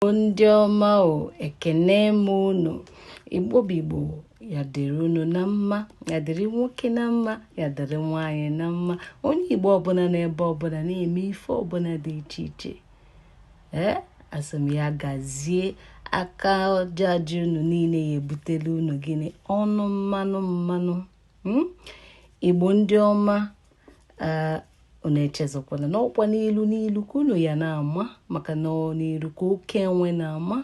ndị ọma o ekene m unu igbo bụ igbo ya dịrị unu na mma ya dịrị nwoke na mma ya dịrị nwaanyị na mma onye igbo ọbụla n'ebe ọbụla na-eme ife ọbụla dị iche iche ee asị m ya gazie aka aja aja unu niile ya butelu unu gịnị ọnụ mmanụ mmanụ hmm? igbo ndị ọma unu echezọkwana n'ọkwa n'elu n'elu ka unu ya na-ama maka na n'elu ka oke enwe na-ama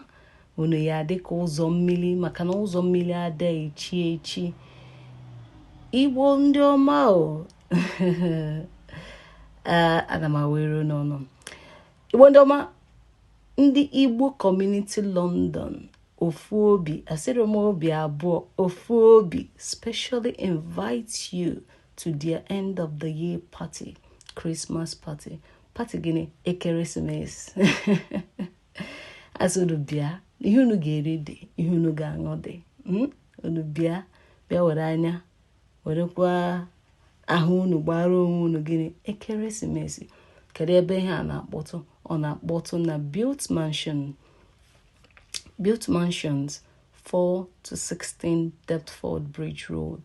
unu ya adị ka ụzọ mmiri maka na ụzọ mmiri ada echi echi igbo ndị ọma o ana m ewere n'ọnụ igbo ndị ọma ndị igbo community london ofu obi asịrọ m obi abụọ ofu obi specially invite you to their end of the year party Christmas party party gịnị ekeresimesi asị unu bịa ihe unu ga-eri dị ihe unu ga-aṅụ dị hmm? unu bịa bịa were anya werekwa ahụ unu gbara onwe unu gịnị ekeresimesi kedu ebe ihe a na-akpọtụ ọ na-akpọtụ na built mansion built mansions 4 to 16 Deptford Bridge Road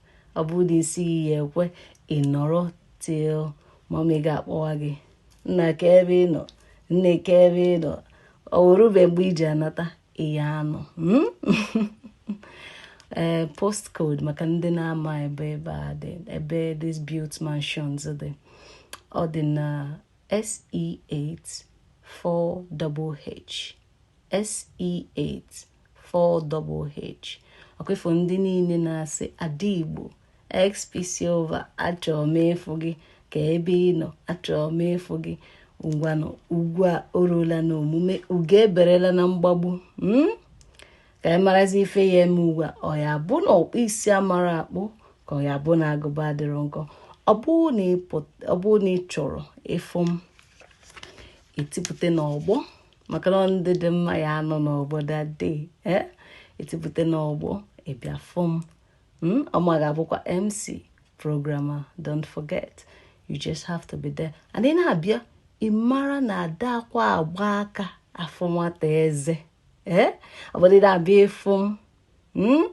ọ bụrụ na isi gị ya ekwe ị nọrọ till mama gị akpọwa gị nna kee ebe ị nọ nne kee ebe ị nọ o erube mgbe ị ji anata ị ya anọ hmm? ee eh, postcode maka ndị na-ama ebe ebe a dị ebe this built mansions dị ọ dị na SE8 4HH SE84HH ọkwa ị fụ ndị niine na-asị ada Igbo XP Silver achọrọ m ịfụ gị ka ebe ị nọ achọrọ m ịfụ gị ngwanụ ugwu a o rula na omume ugo eberela na mgbagbu hmm? ka anyị marazi ife ya eme ugbu a ọ ya bụ na ọkpụ isi amarọ akpụ ka ọ ya bụ na agụba adịrọ nkọ ọ bụrụ na ị chọrọ ịfụ m i tipụta n'ọgbọ maka na ada dị mma ya anọ n'ọgbọ that day eh? i tipụta n'ọgbọ ị bịa fụ m hmm? ọ mụa ga-abụkwa mc program a don't forget you just have to be there and ị na-abịa ị mara na adakwa agba aka afụ nwata eze ee eh? ọbụdị na-abịa ịfụ m hmm?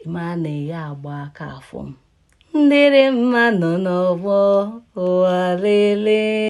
ị mara na ị ya agba aka afụ m ndịrị mma nọ n'ọgbọ ụwa lelee